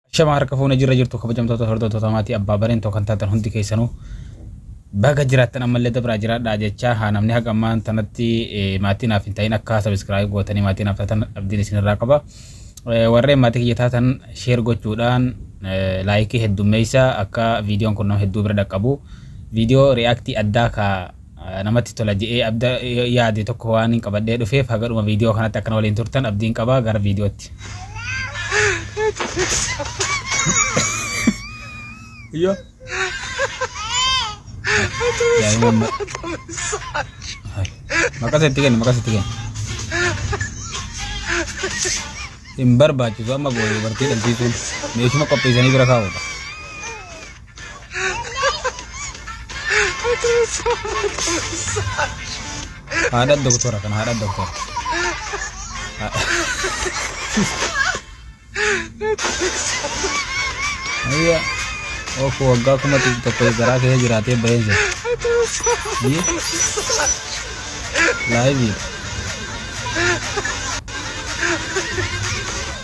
Shama harka fuune jirra jirtu kabajamtoota hordoftoota maatii abbaa bareen tokko kan taatan hundi keessanuu baga jiraattan ammallee dabraa jiraadhaa jechaa haa namni haga ammaan tanatti maatii naaf hin ta'in akka sabiskiraayib gootanii maatii naaf taatan abdiin isinirraa qaba. Warreen maatii kiyya taatan sheer gochuudhaan laayikii heddummeessa akka viidiyoon kun nama hedduu bira dhaqqabu viidiyoo riyaaktii addaa ka namatti tola je'ee abda yaade tokko waanin qabadhee dhufeef haga dhuma viidiyoo kanatti akka na waliin turtan abdiin qaba gara viidiyootti. Yo. Daa'imman ma- Hai. Maqasa itti kenni maqasa itti kenni. Hin barbaachisu amma booda dubartii dhabsiisuun meeshuma qopheessanii bira kaa'uudha. Haadha doktora kan haadha doktora. Ayya ofu waggaa kuma dhibba tokko garaa kee jiraatee bahee jira. Ayya laayibii.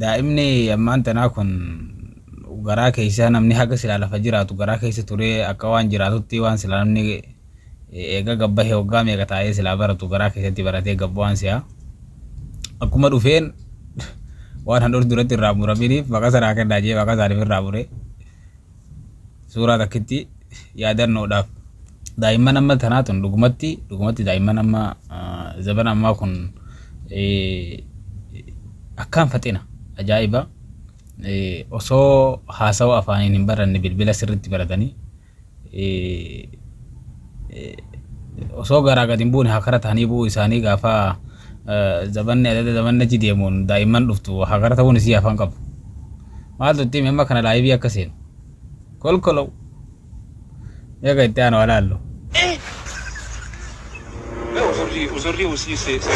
Daa'imni ammaan tanaa kun garaa keessaa namni haga silaa lafa jiraatu garaa keessa turee akka waan jiraatutti waan silaa namni eega gabbahe waggaa meeqa taa'ee silaa baratu garaa keessatti baratee gabbu waan si'a. Akkuma dhufeen waan handhuur duratti irraa muraminiif maqaa sanaa kennaa jee maqaa isaaniif irraa mure. Suuraa takkitti yaadannoodhaaf daa'imman amma tanaa tun dhugumatti dhugumatti daa'imman amma zabana ammaa kun akkaan faxina ajaa'iba osoo haasawa afaaniin hin baranne bilbila sirriitti baratanii osoo garaa gad hin buune hakara ta'anii bu'uu isaanii gaafa Zabanni adada zabanni achi deemuun daa'imman dhuftu hakara ta'uun isii afaan qabu. Maaltu itti hime amma kana laayivii akka seenu. Kolkolow. Eega itti aanu alaallu. Uzurri uzurri usii se se.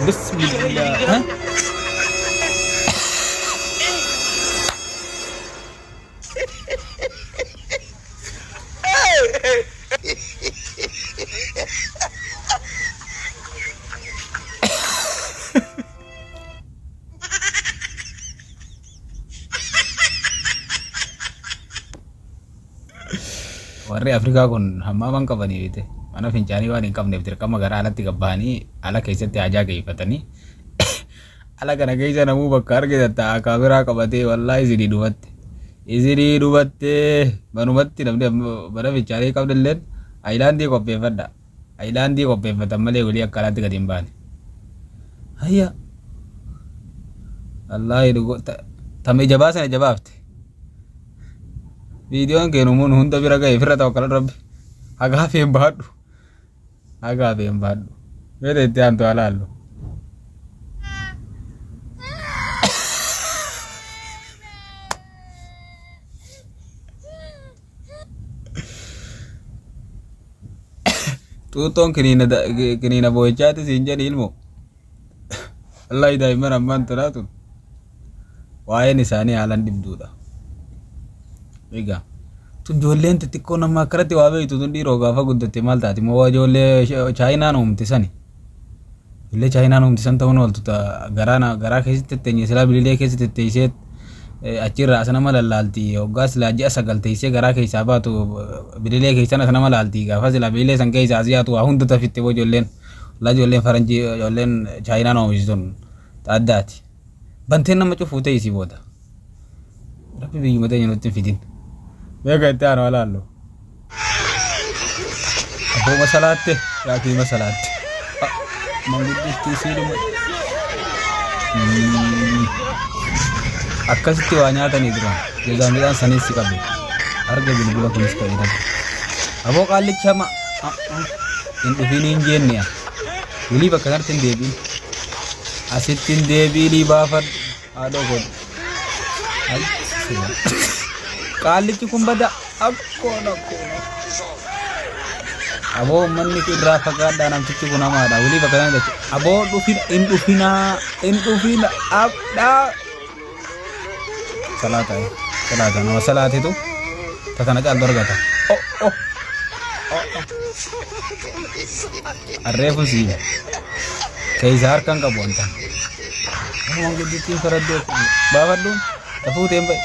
Bismillah. Warri Afrikaa kun hammaa waan qabanii beekte mana fincaanii waan hin qabneef dirqama gara alatti gabbahanii ala keessatti hajaa geeffatanii Ala kana keessa namuu bakka argitan ta'a kaameraa qabatee wallaahi isinii dhumatte. Isinii dhumatte manumatti namni amma mana fichaanii qabdilleen ayilaandii qopheeffadha. Ayilaandii qopheeffatan malee walii akka alaatti gadi hin baane. Hayya wallaahi dhugo ta- tama ija baasana ija baafte. Viidiyoon kee numuun hunda bira ga'e firra tawakkal rabbi. Hagaa feen baadhu. Haga abeen baadhu. Mee ta itti aantu haa laallu. Xuuxxoon kiniina da- kiniina boo'ichaati siin jedhi ilmoo. Wallaahi daa'imman ammaan tanaa tun waa'een isaanii haalan dhibduudha. Egaa tun ijoolleen xixiqqoo nama akkanatti waa beektu tun dhiiroo gaafa guddatte maal taati moo waa ijoollee sh- chaayinaan uumte sani. Ijoollee chaayinaan uumte san ta'uun ooltu ta garaa na- garaa keessatti tetteenye silaa bililee keessa tetteessee eh, achirraa as nama lallaalti hoggaa silaa ji'a sagal teessee garaa keessaa baatu eh, bililee keessan as nama laalti gaafa silaa bililee san keessaa as yaatu waa hunda tafitte moo ijoolleen. Wallah ijoolleen faranjii ijoolleen chaayinaan oomishi sun xaaddaati. Banteen nama cufuu ta'e isii booda. Rabbi biyyuma teenya nutti hin fidin. Beeka itti aanu alaallu. Abboo masalaatte yaatii masalaatte. Mangudditti isii dhuma. Akkasitti waa nyaatanii turan. Jazaa midhaan saniin si qabe. Arga bilbila kunis ta'e dhabe. Aboo qaallicha ma hin dhufiin hin jeenne a wulii bakka kanatti hin deebiin asitti hin deebiinii baafadhu haadhoo godhu qaallichi kun bada akkoon akkoon aboo ummanni irraa fagaadhaa namtichi kun hamaadha wulii bakka kanatti aboo dhufin hin dhufinaa hin dhufina abdhaa salaata salaata nama salaatitu ta tana caaltu argata oh oh arreefun sii keeysa harkan qabu wanta waan guddittiin faraddoo baafadhuun ta fuuteen ba'i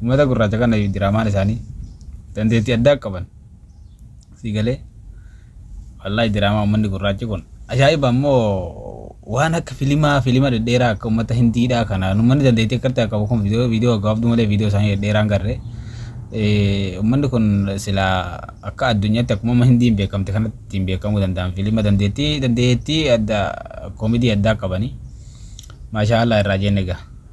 ummata gurraacha kana diraamaan isaanii dandeettii addaa qaban sii galee Wallaahi diraamaa ummanni gurraachi kun ajaa'iba ammoo waan akka filimaa filima dhedheeraa akka ummata hindiidhaa kana ummanni dandeettii akkatti akka qabu kun viidiyoo viidiyoo gaggabaabduu malee viidiyoo isaanii dhedheeraan garre ummanni kun sila akka addunyaatti akkuma amma hindiin beekamte kanatti ittiin beekamuu danda'an filima dandeettii dandeettii adda koomidii addaa qabanii maashaa Allah irraa jenne egaa.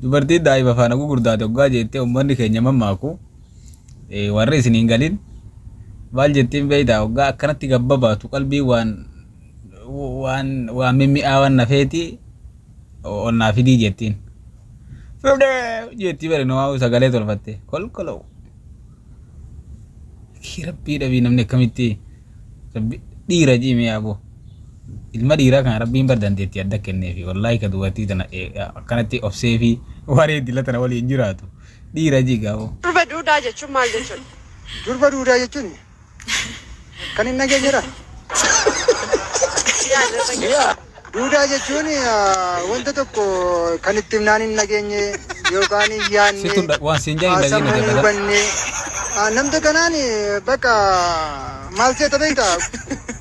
Dubartiin daa'ima faana gugurdaate oggaa jeettee ummanni keenya mammaaku warri isin hin galin maal jettiin beeytaa oggaa akkanatti gabbabaatu qalbii waan waan waan mimmi'aawan nafeeti ol naa fidii jettiin. Fudhee jeetti bari numaa sagalee tolfatte kolkoloo. Rabbii dhabii namni akkamitti Rabbi dhiira jimee aboo. Ilma dhiiraa kana rabbiin bar dandeettii adda kenneefi wallaahi ka dubartii tana akkanatti obsee fi waree dila tana waliin jiraatu dhiira jiga aboo. Durba duudaa jechuun maal jechuudha? Durba duudaa jechuun kan hin dhageenyedha. Duudaa jechuun wanta tokko kan itti himnaan hin dhageenye yookaan hin yaadne Sittu dha- waan siin jaa hin dhageenye sammuu hin dabala. hubanne namta kanaan bakka maal seeta beekta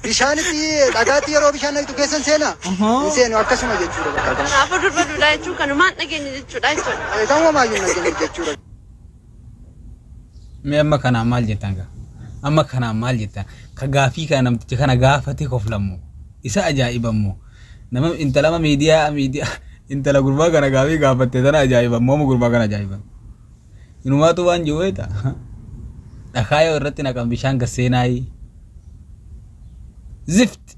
bishaanitti dhagaatti yeroo bishaan naqxu keessan seena hin seenu akkasuma jechuudha bakka kan Kanaafuu durba duudaa jechuun kanumaan dhageenye jechuudha jechuudha. kan wamaayyuu hin dhageenye jechuudha. Mee amma kanaan maal jettan gaa? Amma kanaan maal jettan? Ka gaafii kana namticha kana gaafate koflammoo? Isa ajaa'ibammoo? Nama intalama miidiyaa miidiyaa intala gurbaa kana gaafii gaafatte tana ajaa'ibammoo amma gurbaa kana ajaa'iban. Inumaatu waan jiru beekta. Dhakaa yoo irratti naqan bishaan gasseenaayi. Zift!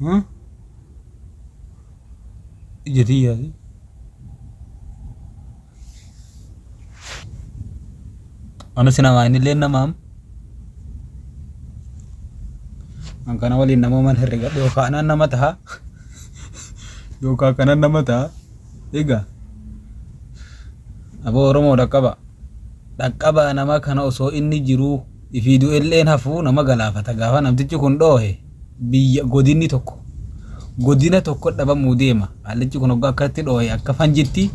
Hmm? Ija tiyyaati. Anas namaa innillee namaam. An kana waliin namooman herregadhe yookaan anaan nama taha yookaan kanan nama taha. Egaa aboo Oromoo dhaqqaba. Dhaqqabaa nama kana osoo inni jiruu ifii du'elleen hafuu nama galaafata gaafa namtichi kun dhoohe biyya godinni tokko godina tokko dhabamuu deema haallichi kun hoggaa akkatti dhoohe akka fanjitti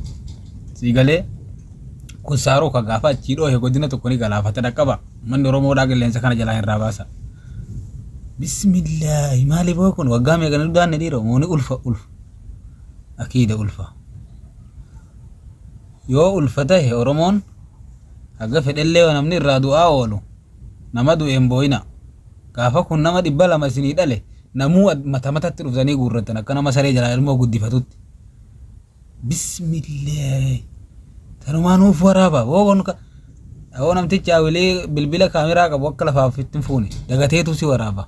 sii galee kun saaruu ka gaafa achii dhoohe godina tokko ni galaafata dhaqqaba manni oromoodhaa qilleensa kana jalaa hin raabaasa bismillaahi maali boo kun waggaa meeqa nu daanne dhiira mooni ulfa ulfa akiida ulfa yoo ulfa tahe oromoon haga fedhellee yoo namni irraa du'aa oolu, nama du'e hin booyinaa. Gaafa kun nama dhibba lama isinii dhale, namuu mata matatti dhuftanii guurrattan, akka nama saree jalaa ilmoo guddifatutti. Bismillaahi! Tanumaa nuuf waraabaa! Woo kun ka... Woo namtichi hawilii bilbila kaameraa qabu akka lafaaf ittiin fuune, dagateetuu si waraabaa.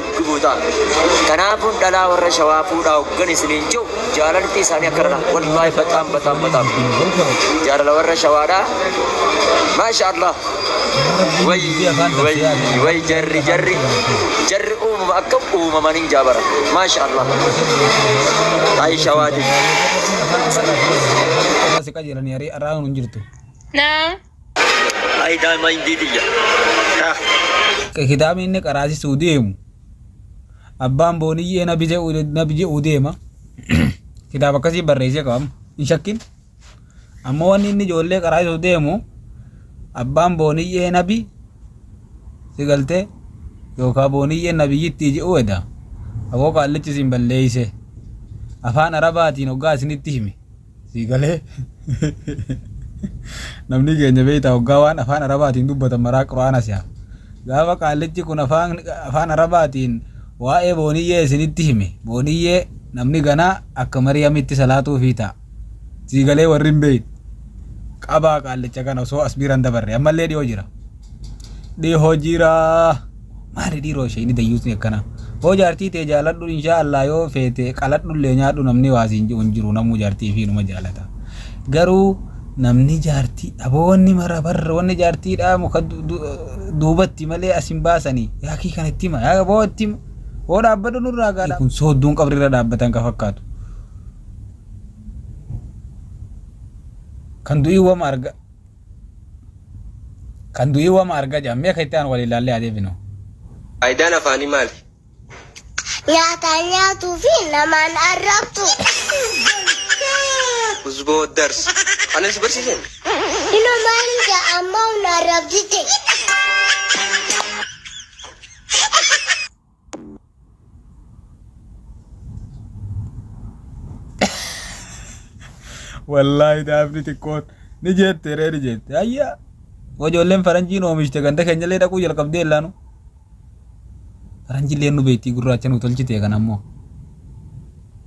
gubuu ta'a. Kanaafuu dhalaa warra shawaa fuudhaa hoggan isiniin jiru jaalalti isaanii akka dhala wallahi bataam bataam bataam jaalala warra shawaadha maasha allah way way way jarri jarri jarri uumama akka uumaman hin jaabara maasha allah ay shawaati Akka si qajeelanii aree arraa hin jirtu. Naa. Ay daima indii tiyya. Taa. Kitaabni inni qaraasisuu deemu abbaan booniyyee nabi je'u nabi je'u deema kitaaba akkasii barreessee qabama hin shakkin amma wanni inni ijoollee qaraasisuu deemu abbaan booniyyee nabi si galtee yookaan booniyyee nabiyyittii je'u eda aboo qaallichi isin balleeyse afaan arabaatiin hoggaa isinitti hime Sii galee namni keenya beektaa hoggaa waan afaan arabaatiin dubbatan maraa quraana si'a. Gaafa qaallichi kun afaan afaan arabaatiin waa'ee booniyyee isinitti hime booniyyee namni ganaa akka mariyamitti salaatuu fi ta'a. Sii galee warri hin beekne qabaa qaallicha kana osoo as biiran dabarre ammallee dhiyoo jira. Dhihoo jiraa. Maali dhiiroo ishee inni dayyuusni akkana. Hoo jaartii tee jaaladhu inshaa Allah yoo feete qaladhu illee nyaadhu namni waasiin ji'u hin jiru namuu jaartii fi numa jaalata. Garuu namni jaartii aboo wanni mara barra wanni jaartii dhaa muka duubatti malee as hin baasanii yaa kii kan itti hima yaa aboo itti hima. Hoo dhaabbadhu nurraa gaadha. Kun soodduun qabri irra dhaabbatan ka fakkaatu. Kan du'ii wama arga. Kan du'ii wama arga jedhan mee ka itti aanu waliin laallee haa deebinu. Faayidaan afaanii maali? Nyaataan nyaatuu fi namaan arrabsuu. Huzbo dars. Kanan si barsiisen. Ino maali ja ammaw na arrabsite. Wallaahi daafni xiqqoon ni jette ree ni jette. Ayyaa ijoolleen faranjiin oomishte ganda keenyallee dhaquu jalqabdee illaanu. Faranjillee nu beektii gurraacha nu tolchite kan ammoo.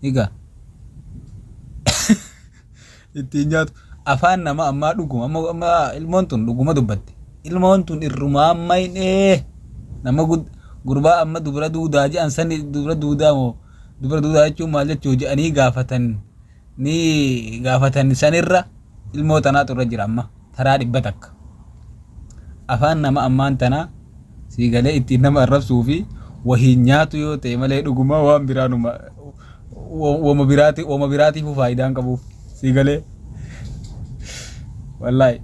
Egaa ittiin nyaatu. Afaan nama ammaa dhuguma amma amma ilmoon tun dhuguma dubbatte ilmoon tun irrumaa amma hin ee nama gud gurbaa amma dubra duudaa je'an sani dubra duudaa moo dubra duudaa jechuun maal jechuu je'anii gaafatan ni gaafatan sanirra ilmoo tanaatu irra jira amma. taraa dhibba takka. Afaan nama ammaan tanaa sii galee ittiin nama arrabsuu fi wahiin nyaatu yoo ta'e malee dhugumaa waan biraa numa wama biraati wama biraatiifuu faayidaan qabuuf sii galee wallaahi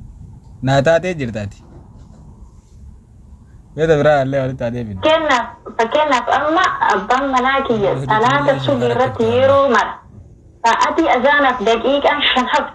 naa taatee jirtaati. Beeta biraa illee walitti haa deebinu. Fakkeenyaaf fakkeenyaaf amma abbaan manaa kiyya salaata subii irratti yeroo mara sa'atii azaanaaf daqiiqaan shan haftu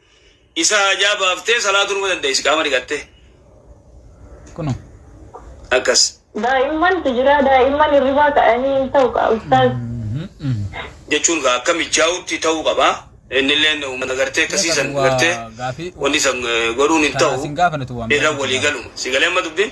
Isa haajaa baaftee salaatuu numa dandeessi qaama dhiqattee. Kuno. Akkas. Daa'imman tu jira daa'imman hirribaa ka'anii hin ta'u kaa ustaaz. jechuun kaa akka mijaa'utti ta'uu qaba. Innilleen uummata gartee akkasii san gartee wanni san godhuun hin ta'u irra walii galuma. Si galee amma dubbiin?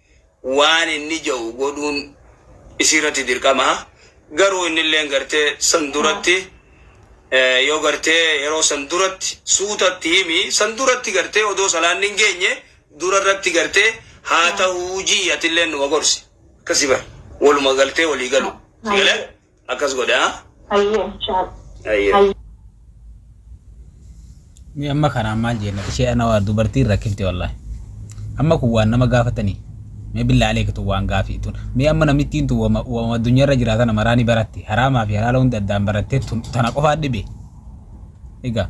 waan inni ja'u godhuun isiirratti dirqama. Garuu innilleen gartee san duratti yoo gartee yeroo san duratti suutatti himi san duratti gartee odoo salaanni hin geenye durarratti gartee haa ta'uu ji'i atilleen numa gorsi. Akkasi bar waluma galtee walii galu. Sigalee? Akkas godhe haa. Hayyee inshaa. Hayyee. Hayyee. Ni amma kanaan maal jenna ishee ana waa dubartiin rakkifte wallahi. Amma kun waan nama gaafatanii mee billaa aleeka tun waan gaafii tun mee amma namittiin tun wama wama addunyaarra jiraa tana maraa ni baratte haraamaa fi halaala hunda addaan barattee tun tana qofaa dhibe egaa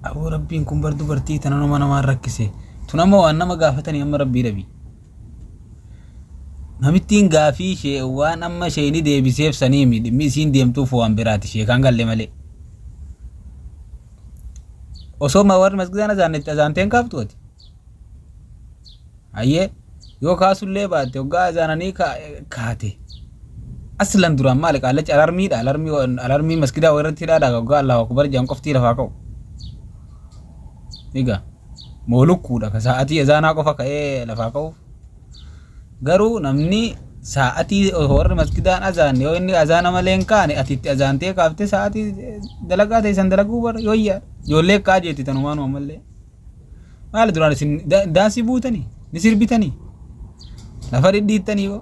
aboo rabbiin kun bar dubartii tana nama namaan rakkise tun amma waan nama gaafatanii amma rabbii dhabii. Namittiin gaafii ishee waan amma sheeyni deebiseef saniimi dhimmi isiin deemtuuf waan biraati sheekaan galle malee. Osoo ma warri masgidaan azaannetti azaanteen kaaftu ati. Hayyee yoo kaasullee baatte hoggaa azaananii kaate. Aslan duraan maali qaallachi alarmiidha alarmii alarmii masgidaa irratti hidhaadha hoggaa Allahu akbar jedhan qoftii lafaa ka'u. Egaa. Moo lukkuudha ka saa'atii ezaanaa qofa ka'ee lafaa ka'uuf? Garuu namni saa'atii osoo warri masgidaan azaanne yoo inni azaana malee hin kaane ati itti azaantee kaaftee saa'atii dalagaa ta'e san dalaguu bara yooyyaa ijoollee ka'aa jeetti tanumaanuma ammallee. Maali duraan isin daansii buutanii ni sirbitanii lafa dhidhiittanii hoo?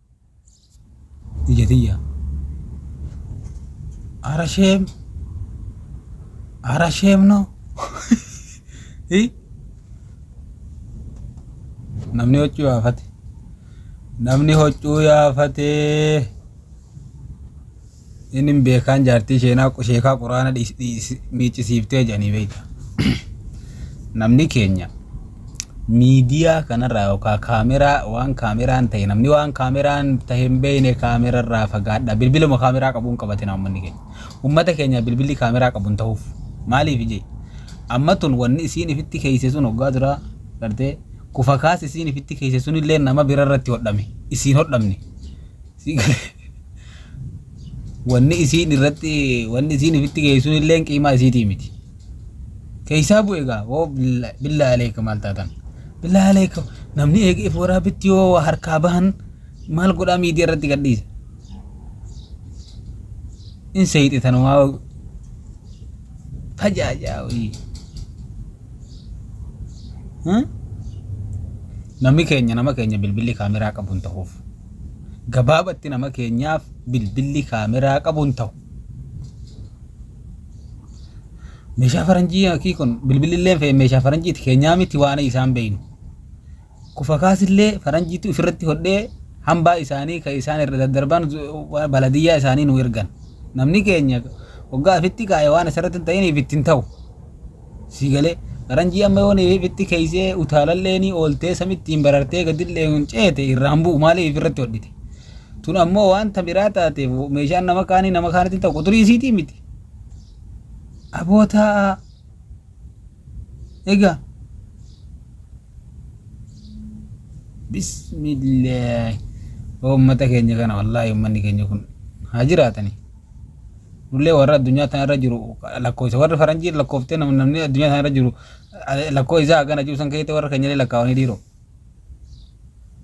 Ija tiyya. Ara sheem. Ara sheem no. Hi? Namni hoccuu yaafate. Namni hoccuu yaafatee. Innin beekaan jaartii sheenaa sheekaa quraana dhiis- dhiis- miiccisiiftee jedhanii beekta. Namni keenya miidiyaa kanarraa yookaan kaameraa waan kaameraan ta'e namni waan kaameraan ta'e hin beekne kaamerarraa fagaadha. Bilbiluma kaameraa qabuun qabatina uummanni keenya. Uummata keenya bilbilli kaameraa qabuun ta'uuf maaliif jee? Amma tun wanni isiin ifitti keeyse sun hoggaa duraa gartee kufa kaas isiin ifitti keeyse sun illee nama birarratti hodhame isiin hodhamne. Sii galee. Wanni isiin irratti wanni isiin ifitti geessuun illeen qiimaa isiitii miti. Keeysaa bu'e gaa woo billa- billaa aleeka maal taatan. Billaa aleeka namni eegeef waraabitti yoo waa harkaa bahan maal godhaa miidiyaa irratti gadhiisa. In seeyxe tanumaa fajaajaa wayii. Hmm? Namni keenya nama keenya bilbilli kaameraa qabu hin ta'uuf. Gabaabatti nama keenyaaf bilbilli kaameraa qabu hin ta'u. Meeshaa faranjii akii kun bilbilli illee fe'e meeshaa faranjiiti keenyaa miti waan isaan beeynu. Kufa kaasillee faranjiitu ofirratti hodhee hambaa isaanii kan isaan irra daddarban baladiyyaa isaanii nu ergan. Namni keenya waggaa ofitti kaa'e waan asirratti hin ta'iniif itti hin ta'u. Sii galee? Faranjii amma yoo neefifitti keeysee utaalalleenii ooltee samittiin barartee gadilleeun ceete irraan bu'u maaliif ifirratti hodhite? Tun ammoo waan ta biraa taateef meeshaan nama kaanii nama kaanitti ta'u quxurii isiitii miti. Aboo taa'aa. Egaa. Bismillaahi. Uummata keenya kana wallaahi uummanni keenya kun haa jiraatanii. Nullee warra addunyaa tana irra jiru lakkoofsa warri faranjiin lakkooftee nam- namni addunyaa tana irra jiru eh, lakkoo isaa hagana jiru san keessatti warra keenyallee lakkaawanii dhiiroo.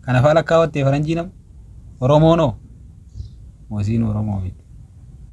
Kanafaa lakkaawattee faranjii nam Oromoonoo moosiin Oromoo miti.